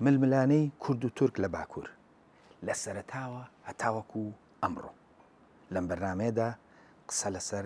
ململانێی کورد و تورک لە باکوور لە سەرەتاوە هەتاوەکو ئەمڕۆ لەم بەرنمەیەدا قسە لەسەر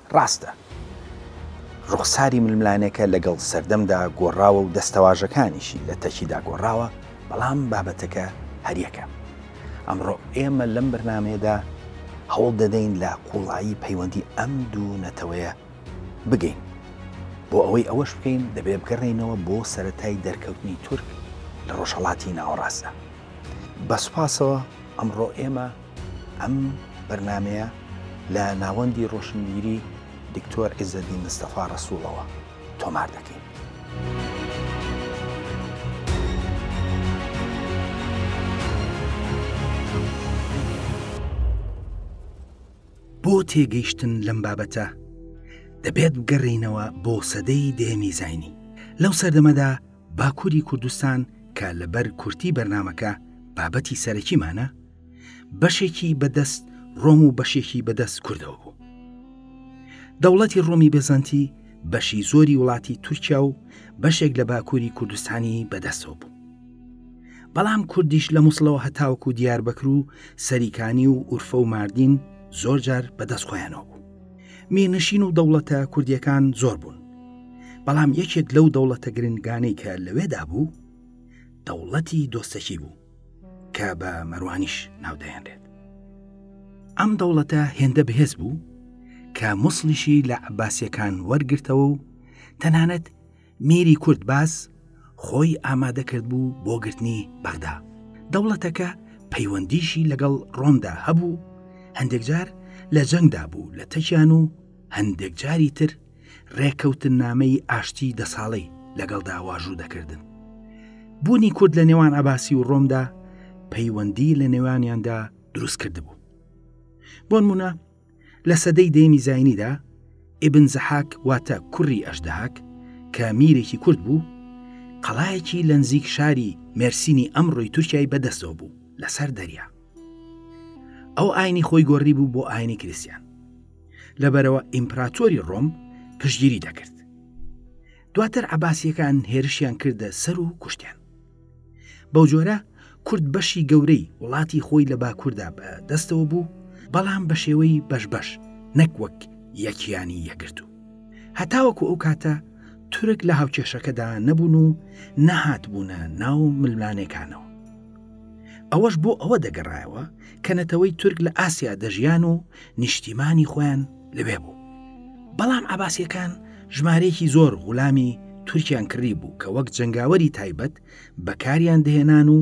ڕاستە ڕوخساری ململانێکە لەگەڵ سەردەمدا گۆڕاوە و دەستەواژەکانیشی لە تەکیدا گۆڕاوە، بەڵام بابەتەکە هەریەکە. ئەمڕۆ ئێمە لەم بەرنامەیەدا هەوڵ دەدەین لە قووڵایی پەیوەندی ئەم دوو نەتەوەیە بگەین. بۆ ئەوەی ئەوەش بکەین دەبێ بگەڕێینەوە بۆ سەرەتای دەرکەوتنی تورک لە ڕۆژهەڵاتی ناوەڕاستدا. بە سوپاسەوە ئەمڕۆ ئێمە. ئەم بەرنامەیە لە ناوەندی ڕۆشنبیری دکتۆر عیزەدین مستەفا ڕەسووڵەوە تۆمار دەکەین. بۆ تێگەیشتن لەم بابەتە دەبێت بگەڕینەوە بۆ سەدەی دێمی زینی لەو سەردەمەدا باکووری کوردستان کە لەبەر کورتی بەرنمەکە بابەتی سەرەکیمانە بەشێکی بەدەست ڕۆم و بەشێکی بەدەست کوردەوە بوو دەوڵەتی ڕۆمی بێزانتی بەشی زۆری وڵاتی تورکیا و بەشێک لە باکووری کوردستانی بەدەستەوە بوو بەڵام کوردیش لە مووسڵەوە هەتاوکو دیار بەکر و سەریکانی و ئورفە و ماردین زۆر جار بەدەست خۆیانەوە بوو مینشین و دەوڵەتە کوردیەکان زۆر بوون بەڵام یەکێک لەو دەوڵەتە گرنگانەی کە لەوێدا بوو دەوڵەتی دۆستەکی بوو کە بە مەروانیش ناودەێنرێت ئەم دەوڵەتە هێندە بەهێز بوو کە موسڵیشی لە عباسیەکان وەرگرتەوە و تەنانەت میری کورد باز خۆی ئامادە کرد بوو بۆ گرتنی بەغدا دەوڵەتەکە پەیوەندیشی لەگەڵ ڕۆمدا هەبوو هەندێک جار لە جەنگدا بوو لە تەکیان و هەندێک جاری تر ڕێکەوتننامەی ئاشتی دە ساڵەی لەگەڵدا واژوو دەکردن. بوونی کورد لە نێوان عباسی و ڕۆمدا پەیوەندی لە نێوانیاندا دروست کرد بوو. بۆن منە لە سەدەی دەیمی زینیدا ئبن زەحاک واتە کوڕی ئەشدەهاک کە میرێکی کورد بوو، قەڵایەکی لە نزیک شاری مێرسینی ئەمڕۆی تورکای بەدەستەوە بوو لەسەر دەریا. ئەو ئاینی خۆی گۆڕی بوو بۆ ئاینی کریسیان لەبەرەوە ئیمپراتۆری ڕۆم پشگیری دەکرد دواتر عباسیەکان هێرشیان کردە سەر و کوشتیان بەو جۆرە کورد بەشی گەورەی وڵاتی خۆی لە باکووردا بە دەستەوە بوو بەڵام بە شێوەی بەش بەش نەک وەک یەکیانی یەکرد و هەتاوەکو ئەو کاتە تورک لە هاوکێشەکەدا نەبوون و نەهات بوونە ناو ململانێکانەوە ئەوەش بۆ ئەوە دەگەڕایەوە کە نەتەوەی تورک لە ئاسیا دەژیان و نیشتیمانی خۆیان لەوێ بوو بەڵام عباسیەکان ژمارەیەکی زۆر غولامی تورکیان کڕی بوو کە وەک جنگاوەری تایبەت بەکاریان دەهێنان و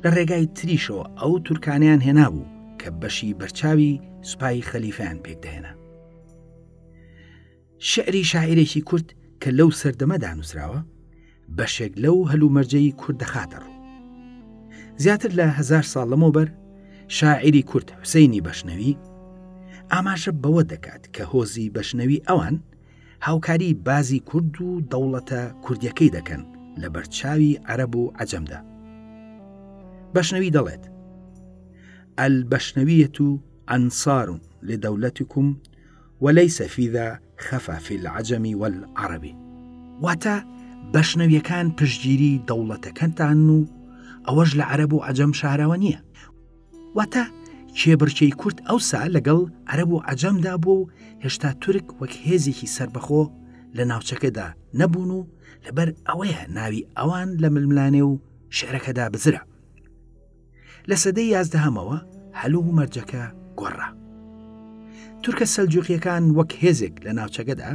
لە ڕێگای تریشەوە ئەو تورکانیان هێنابوو کە بەشی بەرچاوی سوپای خەلیفیان پێکدەهێنا شیعری شاعیرێکی کورد کە لەو سەردەمە دانووسراوە بەشێک لەو هەلومەرجەی کورد دەخاتە ڕوو زیاتر لە هزار ساڵ لەمەوبەر شاعیری کورد حوسینی بەشنەوی ئاماژە بەوە دەکات کە هۆزی بەشنەوی ئەوان هاوکاری بازی کورد و دەوڵەتە کوردیەکەی دەکەن لە بەرچاوی عەرب و عجەمدا بەشنەوی دەڵێت ئەل بەشنەویەت و ئەنسارون لە دەولەتکم وليس في ذا خفا في العجم والعرب واتە بەشنەویەکان پشتگیری دەوڵەتەکەتان و ئەوەش لە عەرەب و عەجەم شاراوە نییە واتە کێبڕکێی کورد ئەوسا لەگەڵ عەرەب و عەجەمدا بوو و هێشتا تورک وەک هێزێکی سربەخۆ لە ناوچەکەدا نەبوون و لەبەر ئەوەیە ناوی ئەوان لە ململانێ و شعرەکەدا بزرا لە سەدەی یازدەهەمەوە هەل و مەرجەکە گۆڕا تورکە سەلجوقیەکان وەک هێزێک لە ناوچەکەدا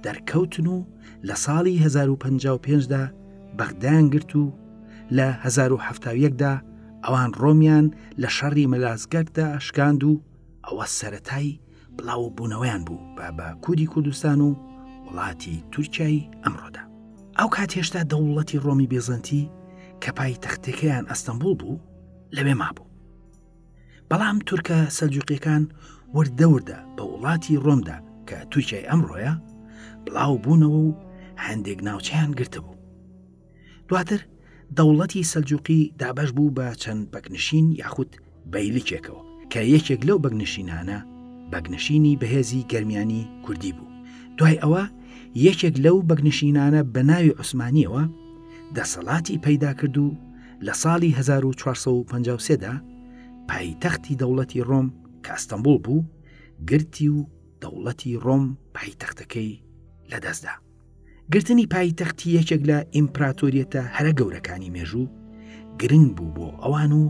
دەرکەوتن و لە ساڵی 1955دا بەغدایان گرت و لە 1970دا ئەوان ڕۆمیان لە شەڕی مەلاسگەردا شکاند و ئەوە سەتایی بڵاو بوونەوەیان بوو بە بە کوردی کوردستان و وڵاتی تورکیای ئەمڕۆدا ئەو کات هێشتا دەوڵەتی ڕۆمی بێزەنتی کە پای تەختەکەیان ئەستەمبول بوو لەوێ مابوو بەڵام تورکە سەلجوقیەکان وردەوردە بە وڵاتی ڕۆمدا کە تورکیای ئەمڕۆیە بڵاو بوونەوە و هەندێک ناوچیان گرتبوو دواتر دەوڵەتی سەلجوقی دابەش بوو بە چەند بەگنشین یاخود بەیلیکێکەوە کە یەکێک لەو بەگنشینانە بەگنشینی بەهێزی گەرمیانی کوردی بوو دوای ئەوە یەکێک لەو بەگنشینانە بە ناوی عوسمانیەوە دەسەڵاتی پەیدا کرد و لە ساڵی 1453دا پایتەختی دەوڵەتی ڕۆم کە ئەستەمبول بوو گرتی و دەوڵەتی ڕۆم پایتەختەکەی لەدەستدا گرتنی پایتەختی یەکێک لە ئیمپراتۆریەتە هەرە گەورەکانی مێژوو گرنگ بوو بۆ ئەوان و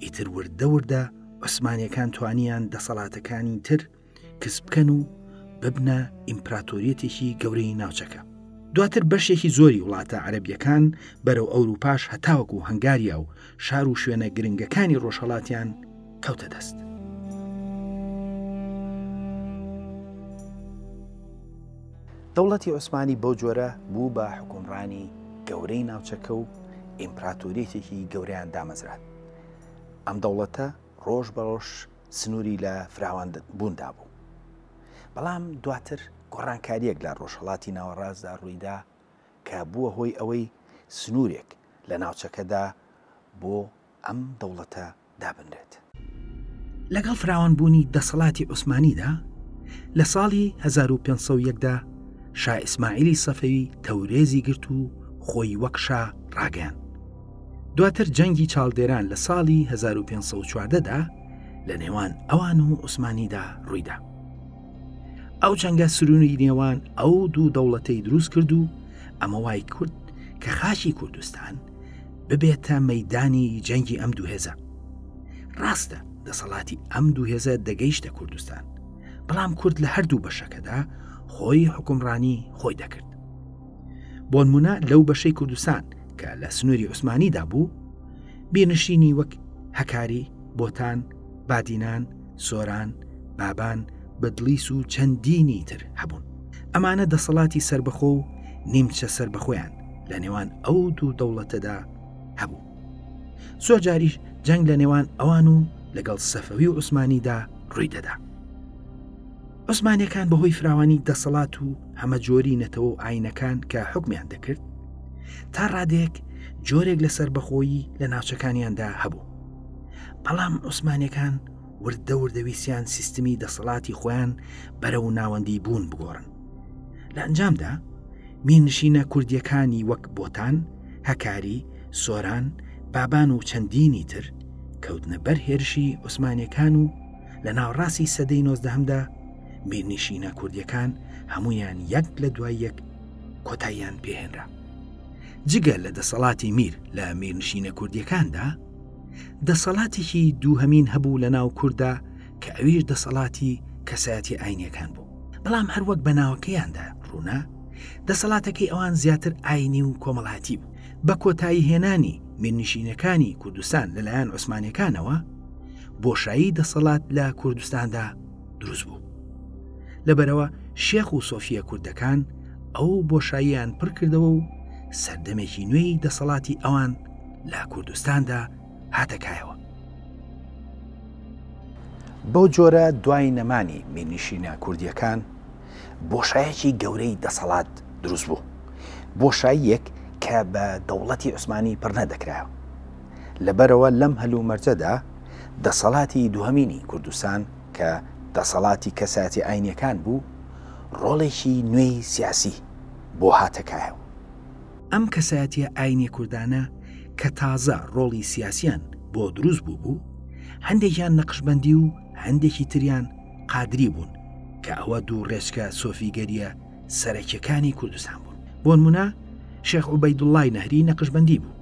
ئیتر وردە وردە عوسمانەکان توانیان دەسەڵاتەکانی تر کس بکەن و ببنە ئیمپراتۆریەتێکی گەورەی ناوچەکە دواتر بەشێکی زۆری وڵاتە عەربیەکان بەرەو ئەوروپاش هەتاوەک و هەنگاریا و شار و شوێنە گرنگەکانی ڕۆژهڵاتیان کەوتە دەست. دەوڵەتی عوسمانی بەو جۆرە بوو بە حوکمڕانی گەورەی ناوچەکە و ئیمپراتۆریەتێکی گەورەیان دامەزراند. ئەم دەوڵەتە ڕۆژ بە ڕۆژ سنووری لە فراوان بووندا بوو. بەڵام دواتر گۆڕانکارییەک لە ڕۆژهەڵاتی ناوەڕاستدا ڕوویدا کە بووە هۆی ئەوەی سنوورێک لە ناوچەکەدا بۆ ئەم دەوڵەتە دابنرێت. لەگەڵ فراوانبوونی دەسەڵاتی عوسمانیدا، لە ساڵی هەزار و پێنج سەد و یەک دا شا ئیسماعیلی سەفەوی تەورێزی گرت و خۆی وەک شا ڕاگەیاند. دواتر جەنگی چاڵدێران لە ساڵی هەزار و پێنج سەد و چواردە دا لە نێوان ئەوان و عوسمانیدا ڕوویدا. ئەو جەنگە سروونی نێوان ئەو دوو دەوڵەتەی دروست کرد و ئەمە وای کرد کە خاکی کوردستان ببێتە مەدانی جەنگی ئەم دووهێزە ڕاستە دەسەڵاتی ئەم دووهێزە دەگەیشتە کوردستان بەڵام کورد لە هەردوو بەشەکەدا خۆی حکومڕانی خۆی دەکرد بۆنمونە لەو بەشەی کوردستان کە لە سنووری عوسمانیدا بوو بینشینی وەک هەکاری بۆتان بادینان سۆران بابان بەدلیس و چەندینی تر هەبوون ئەمانە دەسەڵاتی سربەخۆ و نیمچە سربەخۆیان لە نێوان ئەو دوو دەوڵەتەدا هەبوو زۆر جاریش جەنگ لە نێوان ئەوان و لەگەڵ سەفەوی و عوسمانیدا ڕووی دەدا عوسمانەکان بەهۆی فراوانی دەسەڵات و هەمە جۆری نەتەوە و ئاینەکان کە حکمیان دەکرد تا ڕادێک جۆرێک لە سربەخۆیی لە ناوچەکانیاندا هەبوو بەڵام عوسمانەکان وردە وردەویسیان سیستمی دەسەڵاتی خۆیان بەرە و ناوەندی بوون بگۆڕن لە ئەنجامدا مینشینە کوردییەکانی وەک بۆتان، هەکاری، سۆران، بابان و چەندینی تر کەوتنە بەر هێرشی عوسمانییەکان و لە ناوەڕاستی سەدەی نۆزدەهەمدا میرنیشینە کوردییەکان هەمویان یەک لە دوای یەک کۆتاییان پێهێنرا. جگە لە دەسەڵاتی میر لە میرنشینە کوردیەکاندا دەسەڵاتێکی دووهەمین هەبوو لە ناو کووردا کە ئەویش دەسەڵاتی کەسایەتی ئاینیەکان بوو بەڵام هەروەک بە ناوەکەیاندا ڕوونە دەسەڵاتەکەی ئەوان زیاتر ئاینی و کۆمەڵاتی بوو بە کۆتایی هێنانی میرنشینەکانی کوردستان لەلایەن عوسمانەکانەوە بۆشایی دەسەڵات لە کوردستاندا دروست بوو لەبەرەوە شێخ و سۆفیە کوردەکان ئەو بۆشاییان پڕکردەوە و سەردەمێکی نوێی دەسەڵاتی ئەوان لە کوردستاندا هاتە کایەوە. بەو جۆرە دوای نەمانی میرنیشینە کوردیەکان بۆشایەکی گەورەی دەسەڵات دروست بوو بۆشاییەک کە بە دەوڵەتی عوسمانی پڕنە دەکرایەوە لەبەرەوە لەم هەلومەرجەدا دەسەڵاتی دوهەمینی کوردستان کە دەسەڵاتی کەساتی ئاینەکان بوو ڕۆڵێکی نوێی سیاسی بۆ هاتەکایەوە ئەم کەسایەتیە ئاینیە کوردانە کە تازە ڕۆڵی سیاسیان بۆ دروست بوو بوو، هەندێکیان نەقشبەندی و هەندێکی تریان قادری بوون کە ئەوە دوو ڕێچکە سۆفیگەریە سەرەکیەکانی کوردستان بوون. بۆنمونە شێخ عوبەیدوڵڵای نەهری نەقشبەندی بوو،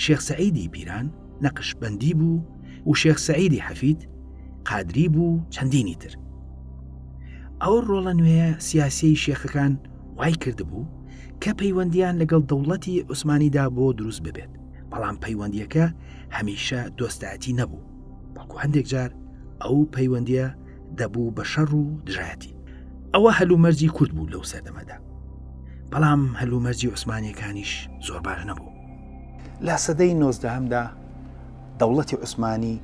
شێخ سەعیدی پیران نەقشبەندی بوو و شێخ سەعیدی حەفید قادری بوو چەندینی تر. ئەو ڕۆڵە نوێیە سیاسیەی شێخەکان، وای کردبوو کە پەیوەندیان لەگەڵ دەوڵەتی عوسمانیدا بۆ دروست ببێت بەڵام پەیوەندیەکە هەمیشە دۆستایەتی نەبوو بەڵکو هەندێک جار ئەو پەیوەندیە دەبوو بە شەڕ و دژایەتی ئەوە هەلومەرجی کورد بوو لەو سەردەمەدا بەڵام هەلومەرجی عوسمانیەکانیش زۆر باش نەبوو لە سەدەی نۆزدەهمدا دەوڵەتی عوسمانی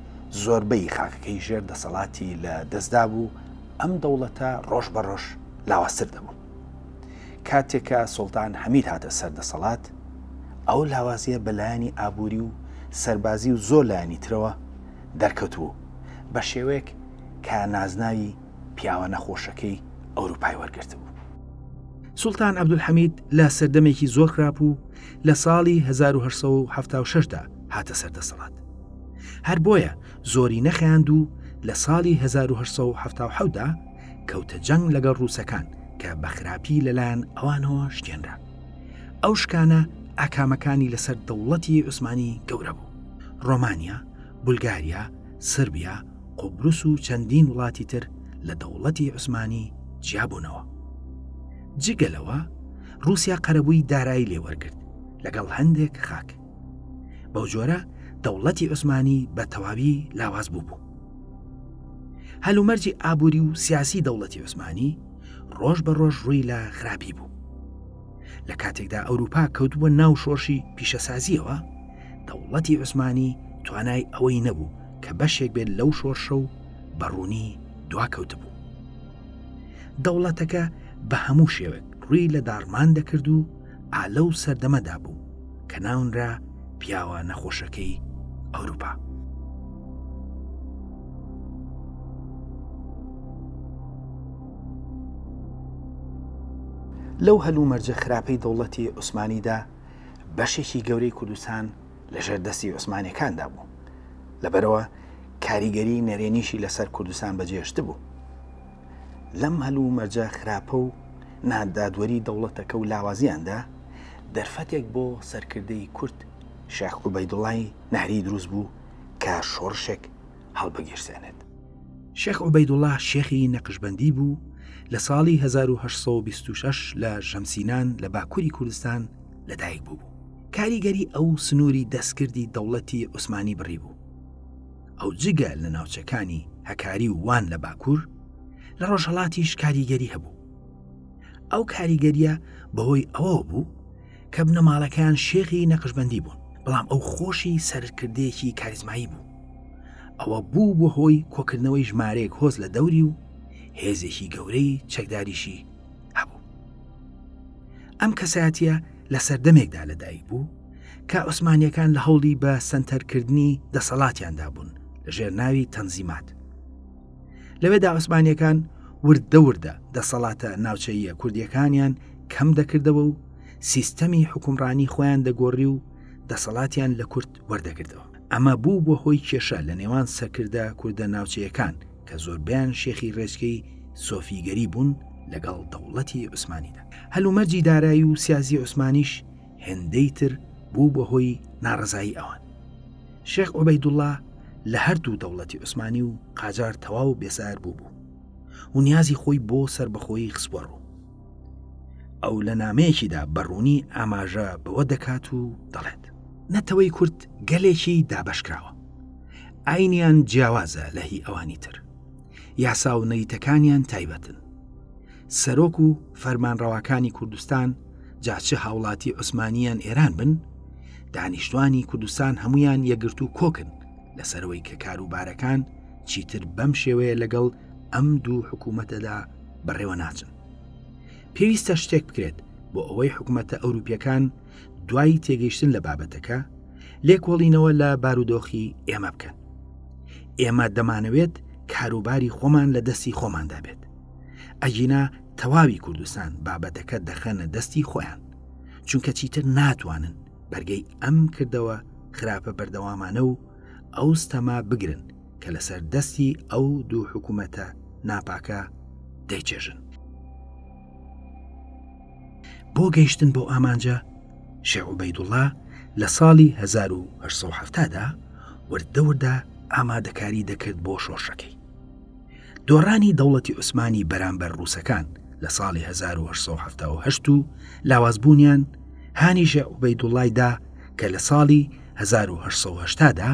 زۆربەی خاکەکەی ژێر دەسەڵاتی لە دەستدا بوو ئەم دەوڵەتە ڕۆژ بە ڕۆژ لاوازتر دەبوو. کاتێک کە سوڵتان حەمید هاتە سەر دەسەڵات، ئەو لاوازییە بە لایەنی ئابووری و سەربازی و زۆر لایەنی ترەوە دەرکەوتبوو، بە شێوەیەک کە نازناوی پیاوە نەخۆشەکەی ئەوروپای وەرگرتبوو. سوڵتان عەبدولحەمید لە سەردەمێکی زۆر خراپ و لە ساڵی هەزار و هەشت سەد و حەفتا و شەش دا هاتە سەر دەسەڵات. هەر بۆیە زۆری نەخایاند و لە ساڵی 1877 دا کەوتە جەنگ لەگەڵ ڕووسەکان کە بە خراپی لەلایەن ئەوانەوە شکێنرا ئەو شکانە ئاکامەکانی لەسەر دەوڵەتی عوسمانی گەورە بوو ڕۆمانیا بولگاریا سربیا قوبروس و چەندین وڵاتی تر لە دەوڵەتی عوسمانی جیابوونەوە جگەلەوە رووسیا قەرەبووی دارایی لێوەرگرت لەگەڵ هەندێک خاک بەو جۆرە دەوڵەتی عوسمانی بە تەواوی لاواز بوو بوو هەلومەرجی ئابووری و سیاسی دەوڵەتی عوسمانی ڕۆژ بە ڕۆژ ڕووی لە خراپی بوو لە کاتێکدا ئەوروپا کەوتبووە ناو شۆرشی پیشەسازیەوە دەوڵەتی عوسمانی توانای ئەوەی نەبوو کە بەشێک بێت لەو شۆرشە و بەڕوونی دواکەوتبوو دەوڵەتەکە بە هەموو شێوێک ڕووی لە داڕمان دەکرد و ئالە و سەردەمەدا بوو کە ناونرا پیاوە نەخۆشەکەی ئەوروپا. لەو هەلو مەرجە خراپەی دەوڵەتی عوسمانیدا بەشێکی گەورەی کوردستان لە ژێردەستی عوسمانەکاندا بوو لەبەرەوە کاریگەری نەرێنیشی لەسەر کوردستان بەجێشت بوو لەم هەلومەرجە خراپە و نادادوەری دەوڵەتەکە و لاوازیاندا، دەرفەتێک بۆ سەرکردەی کورد شێخ عوبەیدوڵای نەهری دروست بوو کە شۆڕشێک هەڵبگیرسێنێت. شێخ عوبەیدوڵا شێخی نەقشبەندی بوو، لە ساڵی هەزار و هەشت سەد و بیست و شەش لە ژەمسینان لە باکووری کوردستان لەدایک بووبوو. کاریگەری ئەو سنووری دەستکردی دەوڵەتی عوسمانی بڕیبوو. ئەو جگە لە ناوچەکانی هەکاری و وان لە باکوور لە ڕۆژهڵاتیش کاریگەری هەبوو ئەو کاریگەریە بەهۆی ئەوە بوو کە بنەماڵەکان شێخی نەقشبندی بوون بەڵام ئەو خۆشی سەرکردێکی کاریزمایی بوو ئەوە بوو بۆ هۆی کۆکردنەوەی ژمارەیەک هۆز لە دەوری و هێزێکی گەورەی چەکداریشی هەبوو ئەم کەساتە لە سەردەمێکدا لەدایک بوو کە عوسمانیەکان لە هەوڵی بە سنتەرکردنی دەسەڵاتیاندا بوون لە ژێر ناوی تەنزیمات لەوێدا عوسمانیەکان وردە وردە دەسەڵاتە ناوچەیە کوردیەکانیان کەم دەکردەوە و سیستەمی حکومڕانی خۆیان دەگۆڕی و دەسەڵاتیان لە کورد وەردەگرتەوە ئەمە بوو بۆ هۆی کێشە لە نێوان سەکردە کوردە ناوچەیەکان کە زۆربیان شێخی ڕێچکەی سۆفیگەری بوون لەگەڵ دەوڵەتی عوسمانیدا هەلومەرجی دارایی و سیازی عوسمانیش هێندەی تر بوو بە هۆی ناڕزایی ئەوان شێخ عوبەیدوڵا لە هەردوو دەوڵەتی عوسمانی و قاجار تەواو بێسار بوو بوو و نیازی خۆی بۆ سربەخۆی خسپۆڕ ئەو لە نامەیەکیدا بەڕوونی ئاماژە بەوە دەکات و دەڵێت نەتەوەی کورد گەلێکی دابشکراوە ئاینیان جیاوازە لە هی ئەوانی تر یاسا و نەریتەکانیان تایبەتن سەرۆک و فەرمانڕەواکانی کوردستان جاچ هاوڵاتی عوسمانیان ئێران بن دانیشتوانی کوردستان هەمویان یەگرتو کۆکن لەسەرەوەی کە کاروبارەکان چیتر بەم شێوەیە لەگەڵ ئەم دوو حکوومەتەدا بەڕێوە ناچن پێویستە شتێک بکرێت بۆ ئەوەی حکوومەتە ئەوروپیەکان دوای تێگەیشتن لە بابەتەکە لێکۆڵینەوە لە بارودۆخی ئێمە بکەن ئێمە دەمانەوێت کاروباری خۆمان لە دەستی خۆماندا بێت ئەگینا تەواوی کوردستان بابەتەکە دەخەنە دەستی خۆیان چونکە چیتر ناتوانن بەرگەی ئەم کردەوە خراپە بەردەوامانە و ئەو ستەما بگرن کە لەسەر دەستی ئەو دوو حکوومەتە ناپاکە دەیچێژن. بۆ گەیشتن بۆ ئامانجە شێعوبەیدوڵا لە ساڵی 1970دا وردەوردا ئامادەکاری دەکرد بۆ شۆشەکەی. دۆڕانی دەوڵەتی عوسمانی بەرامبەر ڕووسەکان لە ساڵی 1970 و لاوازبوونیان هانیژە عوبەیدوڵایدا کە لە ساڵی 1970دا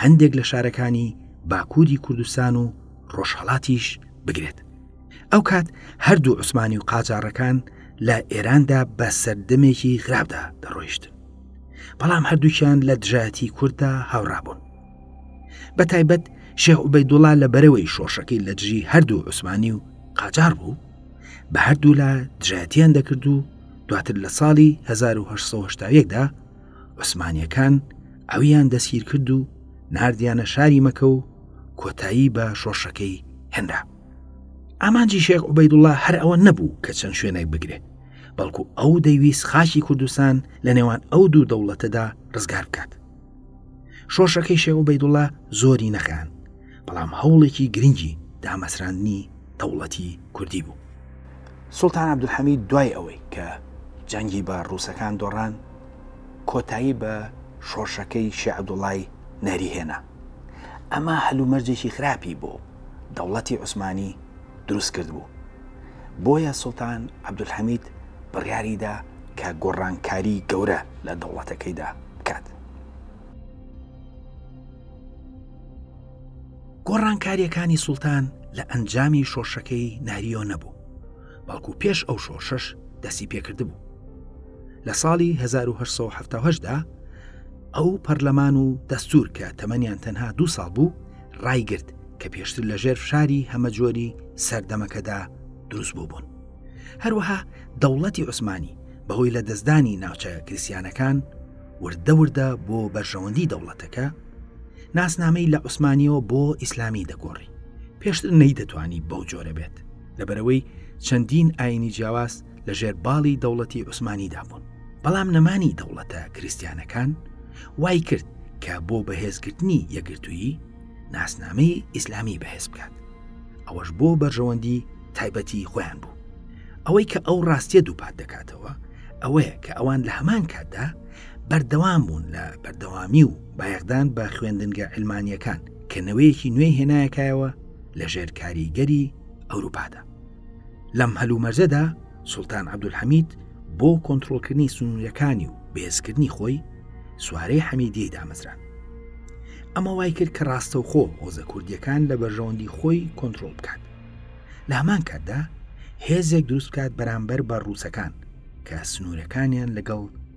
هەندێک لە شارەکانی باکووری کوردستان و ڕۆژهڵاتیش بگرێت ئەو کات هەردوو عوسمانی و قاجارەکان لە ئێراندا بە سەردەمێکی خراپدا دەڕۆیشتن بەڵام هەردووکیان لە دژایەتی کورددا هاوڕابوون بە تایبەت شێخ عوبەی دوڵا لە بەرەوەی شۆشەکەی لە دژی هەردوو عوسمانی و قاجار بوو بە هەردوولا دژایەتیان دەکرد و دواتر لە ساڵی 1970دا عوسمانیەکان ئەویان دەسگیر کرد و نردیانە شاری مەکە و کۆتایی بە شۆڕشەکەی هێنرا ئامانجی شێخ عوبەیدوڵا هەر ئەوە نەبوو کە چەند شوێنێک بگرێت بەڵکو ئەو دەیویست خاکی کوردستان لە نێوان ئەو دوو دەوڵەتەدا ڕزگار بکات شۆشەکەی شێوە بەیدوڵا زۆری نەخیان بەڵام هەوڵێکی گرنگی دامەسراندنی دەوڵەتی کوردی بوو سلتان عبدحەمید دوای ئەوەی کە جەنگی بە ڕووسەکان دۆڕان کۆتایی بە شۆرشەکەی شێخ عەبدوڵای نەهری هێنا. ئەمە هەلومەرجێکی خراپی بۆ دەوڵەتی عوسمانی دروست کردبوو. بۆیە سوڵتان عەبدولحەمید بڕیاری دا کە گۆڕانکاری گەورە لە دەوڵەتەکەیدا بکات. گۆڕانکارییەکانی سوڵتان لە ئەنجامی شۆرشەکەی نەهریۆ نەبوو. بەڵکو پێش ئەو شۆرشەش دەسی پێکردبوو لە ساڵی 1970دا ئەو پەرلەمان و دەستور کە تەمەنیان تەنها دو ساڵ بوو ڕایگرت کە پێشتر لە ژێر فشاری هەمەجۆری سەردەمەکەدا دروست بوو بوون هەروەها دەوڵەتی عوسمانی بەهۆی لە دەستدانی ناوچە کریسیانەکان وردە وردە بۆ بەرژەوەندی دەوڵەتەکە ناسنامەی لە عوسمانیەوە بۆ ئیسلامی دەگۆڕی پێشتر نەی دەتوانی بەو جۆرە بێت لەبەرەوەی چەندین ئاینی جیاواز لە ژێر باڵی دەوڵەتی عوسمانیدا بوون بەڵام نەمانی دەوڵەتە کریسیانەکان وای کرد کە بۆ بەهێزکردنی یەگرتوویی ناسنامەی ئیسلامی بەهێز بکات ئەوەش بۆ بەرژەوەندی تایبەتی خۆیان بوو ئەوەی کە ئەو ڕاستیە دووپات دەکاتەوە ئەوەیە کە ئەوان لە هەمان کاتدا بەردەوام بوون لە بەردەوامی و بایەخدان بە خوێندنگە علمانیەکان کە نەوەیەکی نوێی هێنایەکایەوە لە ژێر کاریگەری ئەوروپادا لەم هەلومەرجەدا سلتان عبدولحەمید بۆ کۆنتترۆلکردنی سنوورەکانی و بێزکردنی خۆی سوارەی حەمیدیەی دامەزران ئەمە وای کرد کە ڕاستەوخۆ هۆزە کوردیەکان لە بەرژەوەندی خۆی کۆنتترۆل بکات لە هەمان کاتدا هێزێک دروست بکات بەرامبەر بە ڕووسەکان کە سنوورەکانیان لەگەڵ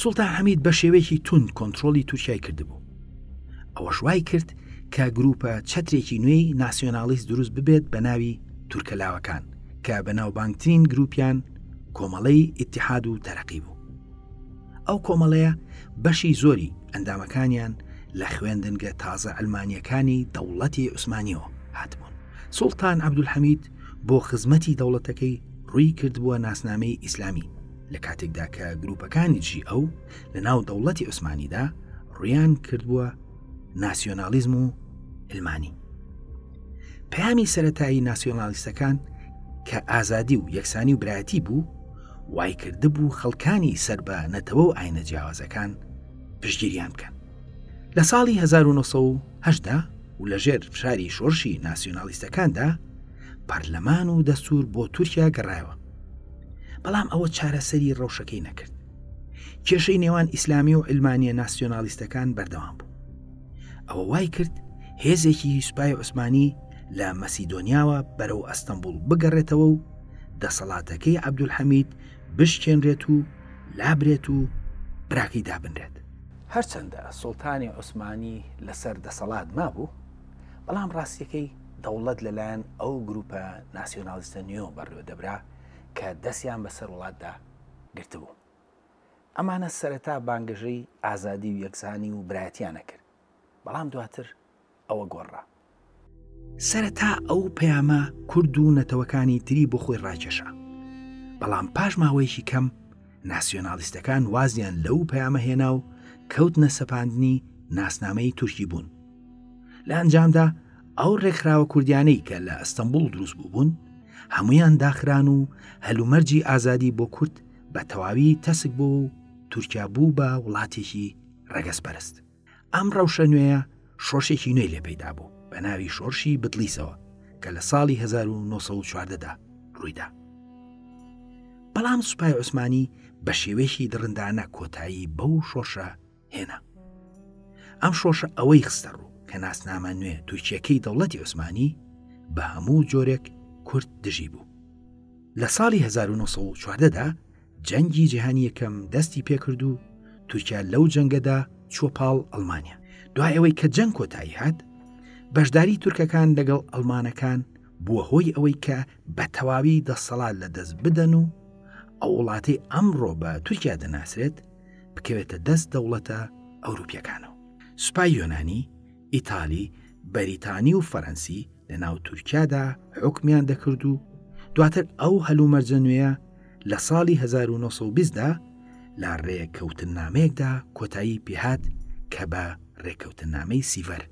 سوڵتان حەمید بە شێوەیەکی تون کۆنتترۆلی تورکای کردبوو ئەوەش وای کرد کە گروپە چەترێکی نوێی ناسیۆنالیست دروست ببێت بە ناوی تورکەلاوەکان کە بە ناوبانگترین گروپیان کۆمەڵەی ئتحاد و تەرەقی بوو ئەو کۆمەڵەیە بەشی زۆری ئەندامەکانیان لە خوێندنگە تازە ئەلمانیەکانی دەوڵەتی عوسمانیەوە هاتبوون سوڵتان عبدولحەمید بۆ خزمەتی دەوڵەتەکەی ڕووی کردبووە ناسنامەی ئیسلامی لە کاتێکدا کە گروپەکانی جی ئەو لە ناو دەوڵەتی عوسمانیدا ڕویان کردبووە ناسیۆنالیزم و علمانی پامی سەتایی ناسیۆنالیستەکان کە ئازادی و یەکسانی و برایەتی بوو وای کردبوو خەڵکانی سەر بە نەتەوە و ئاینە جیاوازەکان پشگیریان بکەن لە ساڵی 1970دا و لەژێر فشاری شۆرشی ناسیۆنالیستەکاندا پەرلەمان و دەستور بۆ تورکیا گەڕایەوە بەڵام ئەوە چارەسەری ڕەوشەکەی نەکرد کێشەی نێوان ئیسلامی و علمانیە ناسیۆنالیستەکان بەردەوام بوو ئەوە وای کرد هێزێکی سوپای عوسمانی لە مەسیدۆنیاوە بەرەو ئەستەمبول بگەڕێتەوە و دەسەڵاتەکەی عبدولحەمید بشکێنرێت و لابرێت و براکەی دابنرێت هەرچەندە سوڵتانی عوسمانی لەسەر دەسەڵات مابوو بەڵام ڕاستیەکەی دەوڵەت لەلایەن ئەو گروپە ناسیۆنالیستە نوێوە بەڕێوەدەبرا کە دەستیان بەسەر وڵاتدا گرتبوو. ئەمانە سەرەتا بانگەشەی ئازادی و یەکسانی و برایەتییان ئەکرد، بەڵام دواتر ئەوە گۆڕرا. سەرەتا ئەو پەیامە کورد و نەتەوەکانی تری بۆ خۆی ڕاکێشا، بەڵام پاش ماوەیەکی کەم، ناسیۆنالیستەکان وازیان لەو پەیامە هێنا و کەوتنە سەپاندنی ناسنامەی تورکی بوون لە ئەنجامدا ئەو ڕێکخراوە کوردیانەی کە لە ئەستەمبول دروست بووبوون هەمویان داخران و هەلومەرجی ئازادی بۆ کورد بە تەواوی تەسک بۆ و تورکیا بوو بە وڵاتێکی ڕەگەز پەرست ئەم ڕەوشە نوێیە شۆرشێکی نوێی لێ پەیدا بوو بە ناوی شۆرشی بدلیسەوە کە لە ساڵی 1940دا ڕوویدا بەڵام سوپای عوسمانی بە شێوەیەکی دڕندانە کۆتایی بەو شۆرشە هێنا ئەم شۆشە ئەوەی خستە ڕوو کە ناسنامە نوێ تورکیەکەی دەوڵەتی عوسمانی بە هەموو جۆرێک کورت دژی بوو لە ساڵی 1940دا جەنگی جیهانی یەکەم دەستی پێکرد و تورکیا لەو جەنگەدا چوە پاڵ ئەلمانیا دوای ئەوەی کە جەنگ کۆتایی هات بەشداری تورکەکان لەگەڵ ئەلمانەکان بووە هۆی ئەوەی کە بە تەواوی دەسەڵات لە دەست بدەن و ئەو وڵاتی ئەمڕۆ بە تورکیا دەناسرێت بکەوێتە دەست دەوڵەتە ئەوروپیەکانەوە سوپای یۆنانی ئیتالی، بەریتانی و فەرەنسی لە ناو تورکیادا حوکمیان دەکرد و دواتر ئەو هەلومەرجە نوێە لە ساڵی 1920دا لە ڕێککەوتننامەیەکدا کۆتایی پێهات کە بە ڕێککەوتننامەی سیڤەر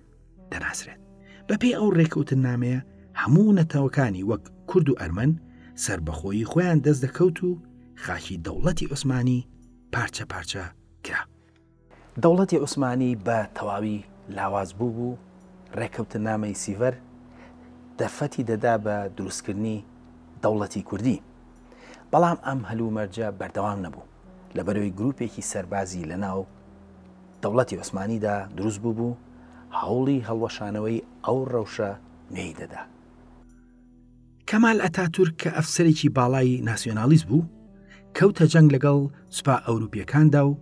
دەناسرێت بەپێی ئەو ڕێککەوتننامەیە هەموو نەتەوەکانی وەک کورد و ئەرمەن سربەخۆیی خۆیان دەست دەکەوت و خاکی دەوڵەتی عوسمانی پارچە پارچە کرا دەوڵەتی عوسمانی بە تەواوی لاواز بووبوو، ڕێکەوتنامەی سیڤەر دەرفەتی دەدا بە دروستکردنی دەوڵەتی کوردی. بەڵام ئەم هەلومەرجە بەردەوام نەبوو، لەبەرەوەی گروپێکی سەربازی لەناو دەوڵەتی عوسمانیدا دروست بووبوو، هەوڵی هەڵوەشانەوەی ئەو ڕەوشە نوێی دەدا. کەمال ئەتاتورک کە ئەفسەرێکی باڵای ناسیۆنالیست بوو، کەوتە جەنگ لەگەڵ سوپا ئەوروپییەکاندا و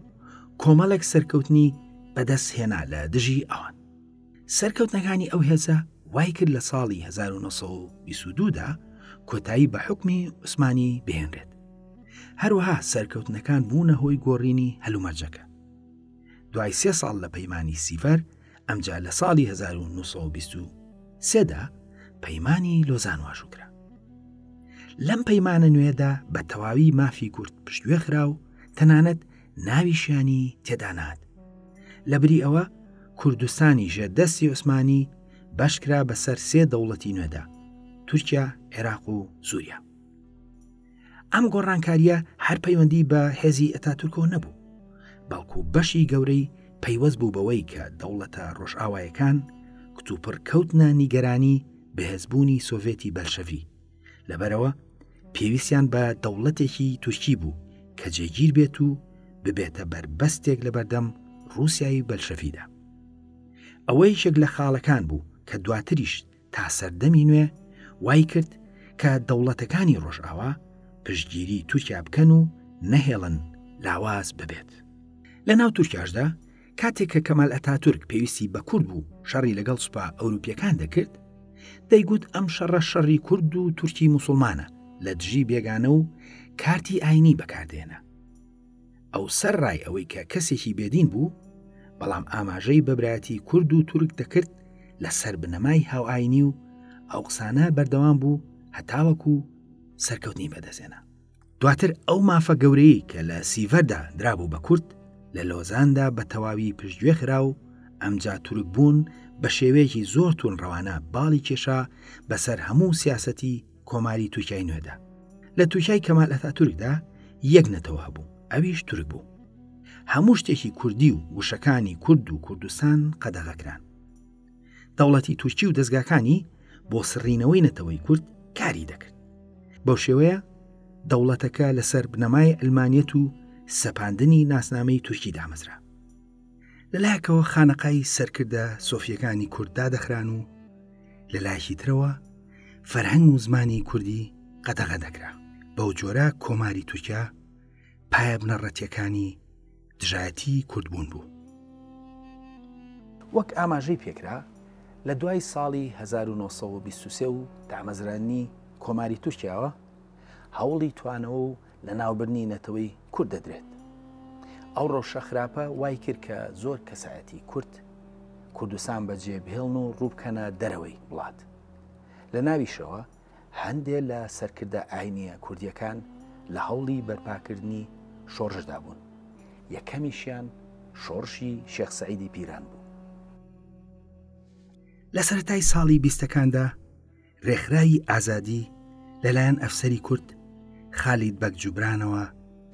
کۆمەڵێک سەرکەوتنی بەدەست هێنا لە دژی ئەوان. سەرکەوتنەکانی ئەو هێزە وایکرد لە ساڵی 1922 دا کۆتایی بە حوکمی عوسمانی بهێنرێت. هەروەها سەرکەوتنەکان بوونە هۆی گۆڕینی هەلومەرجەکە. دوای سێ ساڵ لە پەیمانی سیڤەر ئەمجا لە ساڵی 1923 دا پەیمانی لۆزان واژوو کرا لەم پەیمانە نوێدا بە تەواوی مافی کورد پشتگوێ خرا و تەنانەت ناویشیانی تێدانات لە بری ئەوە کوردستانی ژێردەستی عوسمانی بەشکرا بەسەر سێ دەوڵەتی نوێدا تورکیا عێراق و سووریا ئەم گۆڕانکاریە هەر پەیوەندی بە هێزی ئەتاتورکۆ نەبوو بەڵکو بەشی گەورەی پەیوەست بوو بەوەی کە دەوڵەتە ڕۆژئاوایەکان کتوپڕ کەوتنە نیگەرانی بەهێزبوونی سۆڤێتی بەلشەوی لەبەرەوە پێویستیان بە دەوڵەتێکی تورکی بوو کە جێگیر بێت و ببێتە بەربەستێک لە بەردەم رووسایی بەلشەفیدا ئەوە یەکێک لە خاڵەکان بوو کە دواتریش تا سەردەمی نوێ وای کرد کە دەوڵەتەکانی ڕۆژئاوا پشتگیری تورکیا بکەن و نەهێڵن لاواز ببێت لە ناو تورکیاشدا کاتێک کە کەمال ئەتاتورک پێویستی بە کورد بوو شەڕی لەگەڵ سوپا ئەوروپیەکان دەکرد دەیگوت ئەم شەڕە شەڕی کورد و تورکی موسڵمانە لە دژی بێگانە و کارتی ئاینی بەکاردێنە ئەو سەر ڕای ئەوەی کە کەسێکی بێدین بوو، بەڵام ئاماژەی بە برایەتی کورد و تورک دەکرد لە سەر بنەمای هاوئاینی و ئەو قسانە بەردەوام بوو هەتاوەکو سەرکەوتنی بەدەستێنا. دواتر ئەو مافە گەورەی کە لە سیڤەردا درابوو بە کورد لە لۆزاندا بە تەواوی پشتگوێ خرا و ئەمجا تورک بوون بە شێوەیەکی زۆر توون ڕەوانە باڵی کێشا بەسەر هەموو سیاسەتی کۆماری تورکای نوێدا لە تورکای کەمال ئەتاتورکدا یەک نەتەوە هەبوو ئەویش تورک بوو هەموو شتێکی کوردی و وشەکانی کورد و کوردستان قەدەغەکران دەوڵەتی تورکی و دەستگاکانی بۆ سڕینەوەی نەتەوەی کورد کاری دەکرد بەو شێوەیە دەوڵەتەکە لەسەر بنەمای ئەلمانیت و سەپاندنی ناسنامەی تورکی دامەزرا لەلایەکەوە خانەقای سەرکردە سۆفیەکانی کورد دادەخران و لە لایەکی ترەوە فەرهەنگ و زمانی کوردی قەتەغە دەکرا بەو جۆرە کۆماری تورکیا پایە بنەڕەتیەکانی دژایەتی کوردبوون بوو وەک ئاماژەی پێکرا لە دوای ساڵی 1920 و دامەزرانی کۆماری تورکیاوە هەوڵی توانەوە و لەناوبردنی نەتەوەی کورد دەدرێت. ئەو ڕەوشە خراپە وای کرد کە زۆر کەسایەتی کورد کوردستان بەجێ بهێڵن و ڕووبکەنە دەرەوەی وڵات. لە ناویشەوە هەندێ لە سەرکردە ئاینیە کوردیەکان لە هەوڵی بەرپاکردنی شۆڕشدا بوون. یەکەمیشیان شۆڕشی شێخ سەعیدی پیران بوو. لە سەرەتای ساڵی بیستەکاندا ڕێکخراوی ئازادی لەلایەن ئەفسەری کورد خالید بەگ جوبرانەوە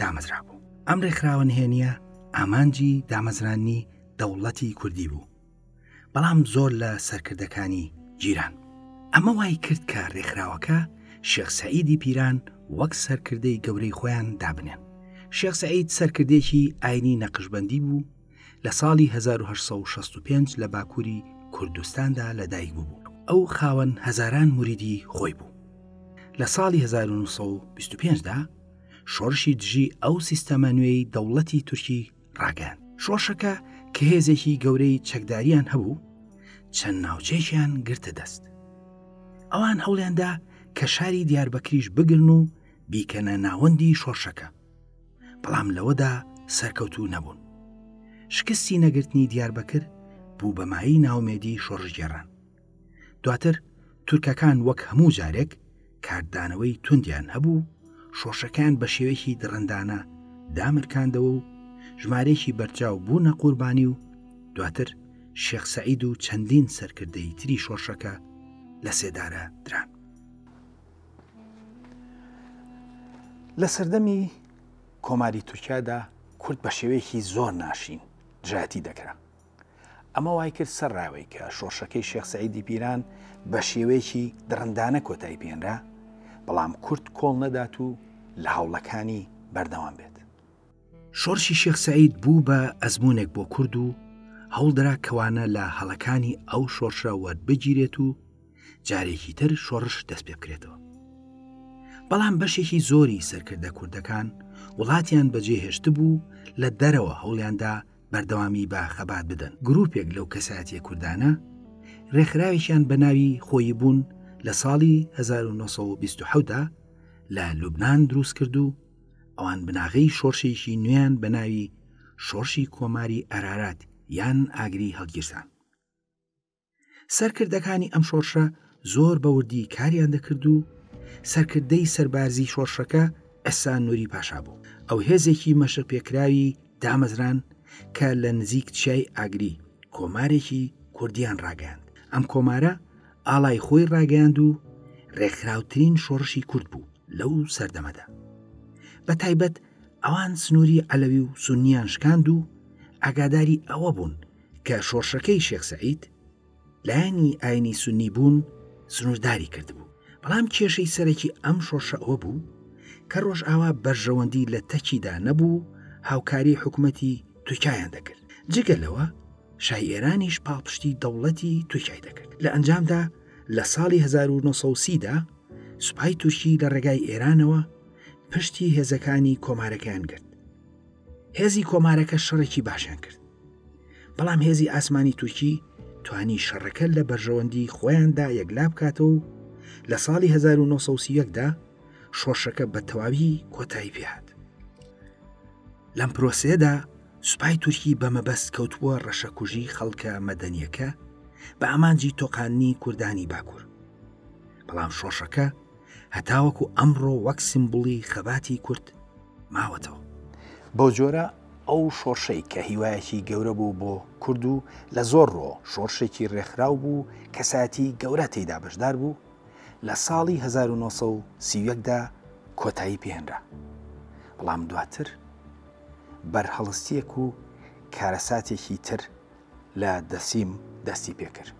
دامەزرا بوو ئەم ڕێکخراوە نهێنیە ئامانجی دامەزرانی دەوڵەتی کوردی بوو بەڵام زۆر لە سەرکردەکانی جیران ئەمە وای کرد کە ڕێکخراوەکە شێخ سعیدی پیران وەک سەرکردەی گەورەی خۆیان دابنێن شێخ سعید سەرکردێکی ئاینی نەقشبندی بوو لە ساڵی 1965 لە باکووری کوردستاندا لەدایک بوو ئەو خاوەن هەزاران مریدی خۆی بوو لە ساڵی 1925دا شۆرشی دژی ئەو سیستەمە نوێی دەوڵەتی تورکی ڕاگەن شۆشەکە کە هێزێکی گەورەی چەکداریان هەبوو چەند ناوچێکیان گرتە دەست ئەوان هەوڵێندا کە شاری دیاربەکریش بگرن و بیکەنە ناوەندی شۆرشەکە بەڵام لەوەدا سەرکەوتوو نەبوون شکستی نەگرتنی دیاربەکر بوو بەمایی ناومێدی شۆڕژگێڕان دواتر تورکەکان وەک هەموو جارێک کاردانەوەی توندیان هەبوو شۆشەکان بە شێوەیەکی دڕندانە دامرکاندەوە و ژمارێکی بەرجاو بوونە قوربانی و دواتر شێخ سەعید و چەندین سەرکردەی تری شۆشەکە لە سێدارە دران لە سەردەمی کۆماری تورکیادا کورد بە شێوەیەکی زۆر ناشین دژایەتی دەکرا ئەمە وای کرد سەر ڕاوی کە شۆڕشەکەی شێخ سعیدی پیران بە شێوەیەکی دڕندانە کۆتایی پێێنرا بەڵام کورد کۆڵ نەدات و لە هەوڵەکانی بەردەوام بێت شۆڕشی شێخ سعید بوو بە ئەزمونێک بۆ کورد و هەوڵدرا کەوانە لە هەڵەکانی ئەو شۆڕشە وەربگیرێت و جارێکی تر شۆڕش دەست پێ بکرێتەوە بەڵام بەشێکی زۆری سەرکردە کوردەکان وڵاتیان بەجێهێشت بوو لە دەرەوە هەوڵیاندا بەردەوامی بە خەبات بدەن گرروپێک لەو کەسایەتە کوردانە ڕێکخراوێکیان بە ناوی خۆی بوون لە ساڵی 1920دا لە لوبناان دروست کرد و ئەوان بناغەی شۆرشێکی نوێیان بە ناوی شۆرشی کۆماری ئەرارات یان ئاگری هەڵگیرسان سەرکردەکانی ئەم شۆرشە زۆر بەوردی کاریان دەکرد و سەرکردەی سەربازی شۆرشەکە ئەسان نووری پاشا بوو ئەو هێزێکی مەشق پێکراوی دامەزران کە لە نزیک چیای ئاگری کۆمارێکی کوردیان ڕاگەیاند ئەم کۆمارە ئاڵای خۆی ڕاگەیاند و ڕێکخراوترین شۆڕشی کورد بوو لەو سەردەمەدا بە تایبەت ئەوان سنووری عەلەوی و سنیان شکاند و ئاگاداری ئەوە بوون کە شۆڕشەکەی شێخ سعید لایەنی ئاینی سنی بوون سنوورداری کردبوو بەڵام کێشەی سەرەکی ئەم شۆڕشە ئەوە بوو کە ڕۆژئاوا بەرژەوەندی لە تەکیدا نەبوو هاوکاری حکوومەتی تورکایان دەکرد جگە لەوە شای ئێرانیش پاڵپشتی دەوڵەتی تورکای دەکرد لە ئەنجامدا لە ساڵی 1930دا سوپای تورکی لە ڕێگای ئێرانەوە پشتی هێزەکانی کۆمارەکەیان گرت هێزی کۆمارەکە شەڕێکی باشیان کرد بەڵام هێزی ئاسمانی تورکی توانی شەڕەکە لە بەرژەوەندی خۆیاندا یەکلا بکاتەوە و لە ساڵی 1970دا شۆڕشەکە بە تەواوی کۆتایی پێهات لەم پرۆسێدا سوپای تورکی بە مەبەست کەوتبووە ڕەشەکوژی خەڵکە مەدەنیەکە بە ئامانجی تۆقاننی کوردانی باکوور بەڵام شۆشەکە هەتاوەکو ئەمڕۆ وەک سیمبوڵی خەباتی کورد ماوەتەوە. بەو جۆرە ئەو شۆڕشەی کە هیوایەکی گەورە بوو بۆ کورد و لە زۆر ڕووەوە شۆڕشێکی ڕێکخراو بوو و کەسایەتی گەورە تێیدا بەشدار بوو، لە ساڵی هەزار و نۆ سەد و سی و یەک دا کۆتایی پێهێنرا. بەڵام دواتر بەرهەڵستییەک و کارەساتێکی تر لە دەرسیم دەستی پێ کرد.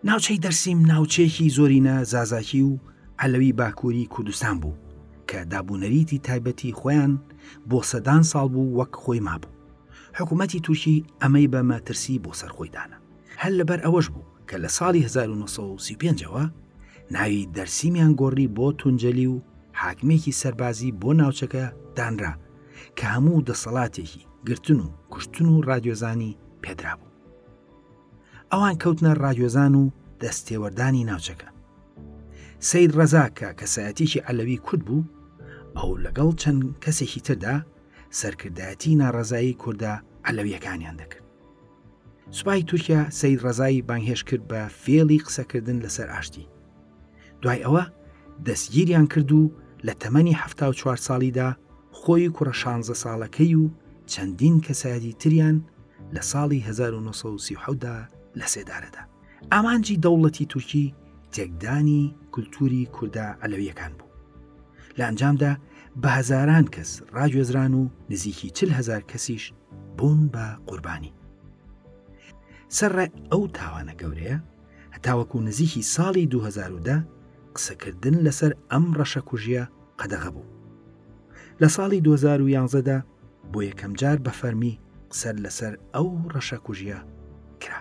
ناوچەی دەرسیم ناوچەیەکی زۆرینە زازاکی و عەلەوی باکووری کوردستان بوو کە دابوونەریتی تایبەتی خۆیان بۆ سەدان ساڵ بوو وەک خۆی مابوو. حکوومەتی تورکی ئەمەی بە مەترسی بۆ سەر خۆی دانا. هەر لەبەر ئەوەش بوو کە لە ساڵی هەزار و نۆ سەد و سی و پێنج ەوە ناوی دەرسیمیان گۆڕی بۆ تونجەلی و حاکمێکی سەربازی بۆ ناوچەکە دانرا، کە هەموو دەسەڵاتێکی گرتن و کوشتن و ڕادیۆزانی پێدرابوو ئەوان کەوتنە ڕادیۆزان و دەستێوەردانی ناوچەکە سید ڕەزا کە کەسایەتێکی عەلەوی کورد بوو ئەو لەگەڵ چەند کەسێکی تردا سەرکردایەتی ناڕزایی کووردە عەلەویەکانیان دەکرد سوپای تورکیا سید ڕزایی بانگهێش کرد بە فێڵی قسەکردن لەسەر ئاشتی دوای ئەوە دەستگیریان کرد و لە تەمەنی حەفتا و چوار ساڵیدا خۆی و کوڕە شانزە ساڵەکەی و چەندین کەسایەتی تریان لە ساڵی 1970دا لە سێدارەدا ئامانجی دەوڵەتی تورکی تێکدانی کولتوری کوردە ئەلەویەکان بوو لە ئەنجامدا بە هەزاران کەس ڕاگوێزران و نزیکی چل هزار کەسیش بوون بە قوربانی سەرڕێ ئەو تاوانە گەورەیە هەتاوەکو نزیکی ساڵی 2010 قسەکردن لەسەر ئەم ڕەشەکوژیە قەدەغە بوو لە ساڵی 2011دا بۆ یەکەمجار بە فەرمی قسەر لەسەر ئەو ڕەشەکوژیە کرا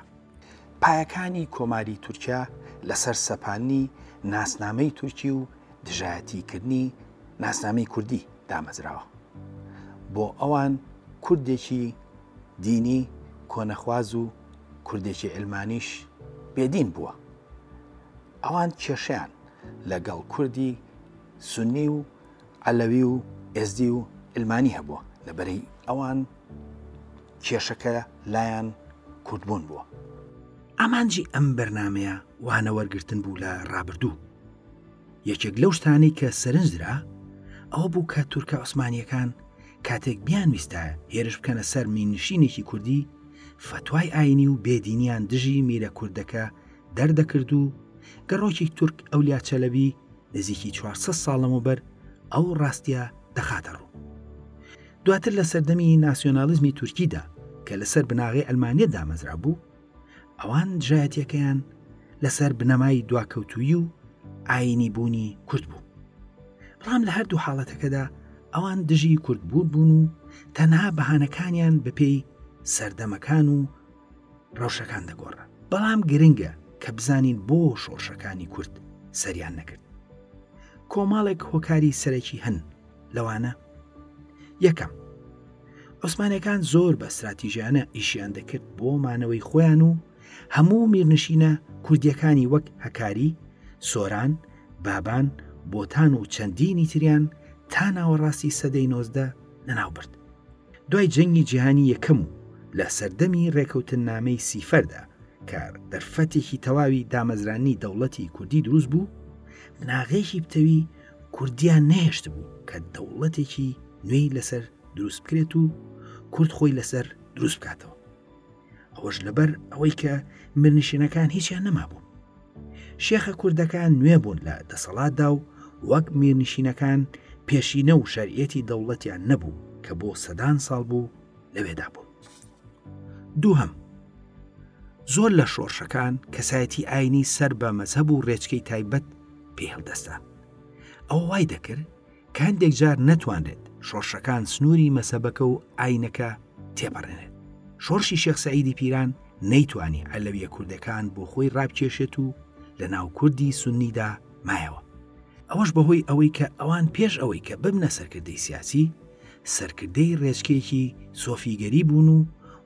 پایەکانی کۆماری تورکیا لەسەر سەپانی ناسنامەی تورکی و دژایەتیکردنی ناسنامەی کوردی دامەزراوە بۆ ئەوان کوردێکی دینی کۆنەخواز و کوردێکی علمانیش بێدین بووە. ئەوان کێشیان لەگەڵ کوردی سنی و عەلەوی و ئێزدی و علمانی هەبووە لەبەرەی ئەوان کێشەکە لایەن کوردبوون بووە. ئامانجی ئەم بەرنامەیە وانە وەرگرتن بوو لە ڕابردوو. یەکێک لەو شتانەی کە سەرنجدرا ئەوە بوو کە تورکە عوسمانیەکان کاتێک بیانویستە هێرش بکەنە سەر مینشینێکی کوردی فەتوای ئاینی و بێدینیان دژی میرە کوردەکە دەردەکرد و گەڕۆکی تورک ئەو لاچەلەبی نزیکی 400 ساڵم و بەر ئەو ڕاستە دەخاتە ڕوو دواتر لە سەردەمی ناسیۆنالیزمی تورکیدا کە لەسەر بناغی ئەلمانیە دامەزرا بوو ئەوان دژایەتەکەیان لەسەر بنەمای دواکەوتویی و ئاینی بوونی کورد بوو بەڵام لە هەردوو حاڵەتەکەدا ئەوان دژی کوردبوو بوون و تەنها بەهانەکانیان بەپێی سەردەمەکان و ڕەوشەکان دەگۆڕە بەڵام گرنگە کە بزانین بۆ شۆڕشەکانی کورد سەریان نەکرد کۆمەڵێک هۆکاری سەرەکی هەن لەوانە یەکەم عوسمانەکان زۆر بە استراتیژیانە ئیشیان دەکرد بۆ مانەوەی خۆیان و هەموو میرنشینە کوردیەکانی وەک هەکاری سۆران بابان بۆتان و چەندینی تریان تا ناوەڕاستی سەدەی نۆزدە لەناو برد دوای جەنگی جیهانی یەکەم و لە سەردەمی ڕێکەوتن نامەی سیفەردا کە دەرفەتێکی تەواوی دامەزرانی دەوڵەتی کوردی دروست بوو بناغێکی پتەوی کوردیان نەهێشتبوو کە دەوڵەتێکی نوێی لەسەر دروست بکرێت و کورد خۆی لەسەر دروست بکاتەوە ئەوەش لەبەر ئەوەی کە مرنشینەکان هیچیان نەمابوو شێخە کوردەکان نوێ بوون لە دەسەڵاتدا و وەک میرنشینەکان پێشینە و شەرعەتی دەوڵەتیان نەبوو کە بۆ سەدان ساڵ بوو لەوێدا بوون دووهم زۆر لە شۆڕشەکان کەسایەتی ئاینی سەر بە مەزهب و ڕێچکەی تایبەت پێ هەڵدەستان ئەو وای دەکرد کاندێک جار نەتوانرێت شۆڕشەکان سنووری مەسەبەکە و ئاینەکە تێپەڕێنێت شۆڕشی شێخ سعیدی پیران نەیتوانی ئەلەویە کوردەکان بۆ خۆی ڕابکێشێت و لە ناو کوردی سنیدا مایەوە ئەوەش بەهۆی ئەوەی کە ئەوان پێش ئەوەی کە ببنە سەرکردەی سیاسی سەرکردەی ڕێچکێکی سۆفیگەری بوون و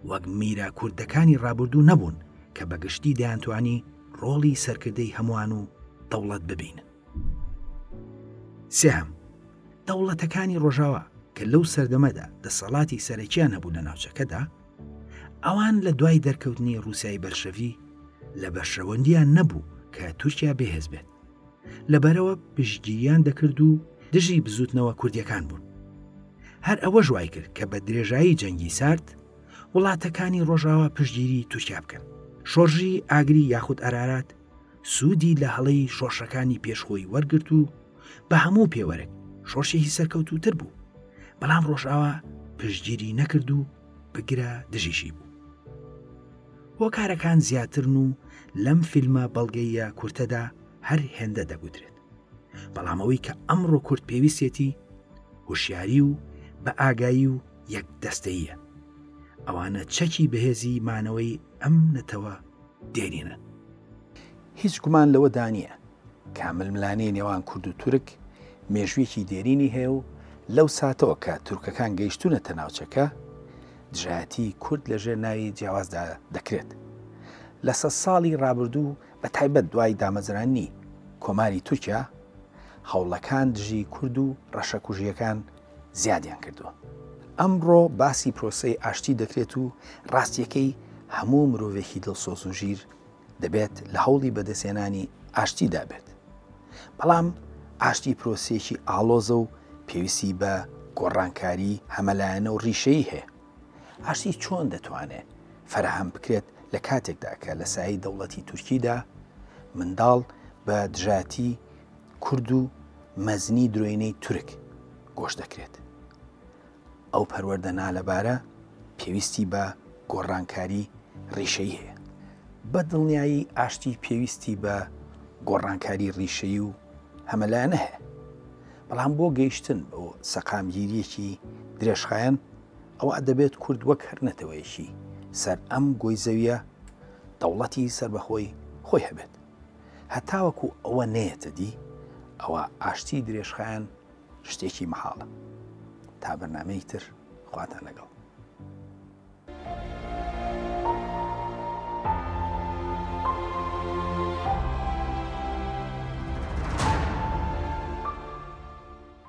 وەک میرە کوردەکانی ڕابردوو نەبوون کە بە گشتی دەیانتوانی ڕۆڵی سەرکردەی هەمووان و دەوڵەت ببینن. سێهەم، دەوڵەتەکانی ڕۆژاوا کە لەو سەردەمەدا دەسەڵاتی سەرەکیان هەبوو لە ناوچەکەدا، ئەوان لە دوای دەرکەوتنی ڕووسیای بەلشەڤی لە بەرژەوەندیان نەبوو کە تورکیا بێهێز بێت. لەبەرەوە پشتگیریان دەکرد و دژی بزوتنەوە کوردیەکان بوون هەر ئەوە ژوای کرد کە بە درێژایی جەنگی سارد وڵاتەکانی ڕۆژاوا پشتگیری تورکیا بکەن شۆرژی ئاگری یاخود ئەرارات سوودی لە هەڵەی شۆشەکانی پێشخۆی وەرگرت و بە هەموو پێوەرێک شۆشێکی سەرکەوتوتر بوو بەڵام ڕۆژاوا پشتگیری نەکرد و بگرە دژیشی بوو هۆکارەکان زیاترن و لەم فیلمە بەڵگەییە کورتەدا هەر هێندە دەگوترێت بەڵام ئەوەی کە ئەمڕۆ کورت پێویستێتی هوشیاری و بە ئاگایی و یەک دەستەیە ئەوانە چەکی بەهێزی مانەوەی ئەم نەتەوە دێنینە هیچ گومان لەوە دانیە کامل ملانی نێوان کورد و تورک مێژویەکی دێرینی هەیە و لەو ساتەوە کە تورکەکان گەیشتونەتە ناوچەکە دژایەتی کورد لە ژێر ناوی جیاوازدا دەکرێت لە سە ساڵی ڕابردوو بە تایبەت دوای دامەزرانی کۆماری تورکیا هەوڵەکان دژی کورد و ڕەشەکوژیەکان زیادیان کردووە ئەمڕۆ باسی پرۆسی ئاشتی دەکرێت و ڕاستیەکەی هەموو مرۆڤێکی دڵسۆز و ژیر دەبێت لە هەوڵی بەدەستهێنانی ئاشتیدا بێت بەڵام ئاشتی پرۆسیەکی ئاڵۆزە و پێویستی بە گۆڕانکاری هەمەلایەنە و ڕیشەی هەیە ئاشتی چۆن دەتوانێت فەرهەم بکرێت لە کاتێکدا کە لە سایی دەوڵەتی تورکیدا منداڵ بە دژاتی کورد و مەزنی درۆینەی تورک گۆش دەکرێت ئەو پەروەردە نالەبارە پێویستی بە گۆڕانکاری ڕیشەیی هەیە. بە دڵنیایی ئاشتی پێویستی بە گۆڕانکاری ڕیشەیی و هەمەلایەنە هەیە. بەڵام بۆ گەیشتن بۆ سەقامگیریەکی درێژخایەن ئەوە دەبێت کورد وەک هەر نەتەوەیەکی سەر ئەم گۆی زەویە دەوڵەتی سربەخۆی خۆی هەبێت. هەتاوەکو ئەوە نەیەتە دی ئەوە ئاشتی درێژخایەن شتێکی مەحاڵە تا بەرنمەیەک تر خواتان لەگەڵ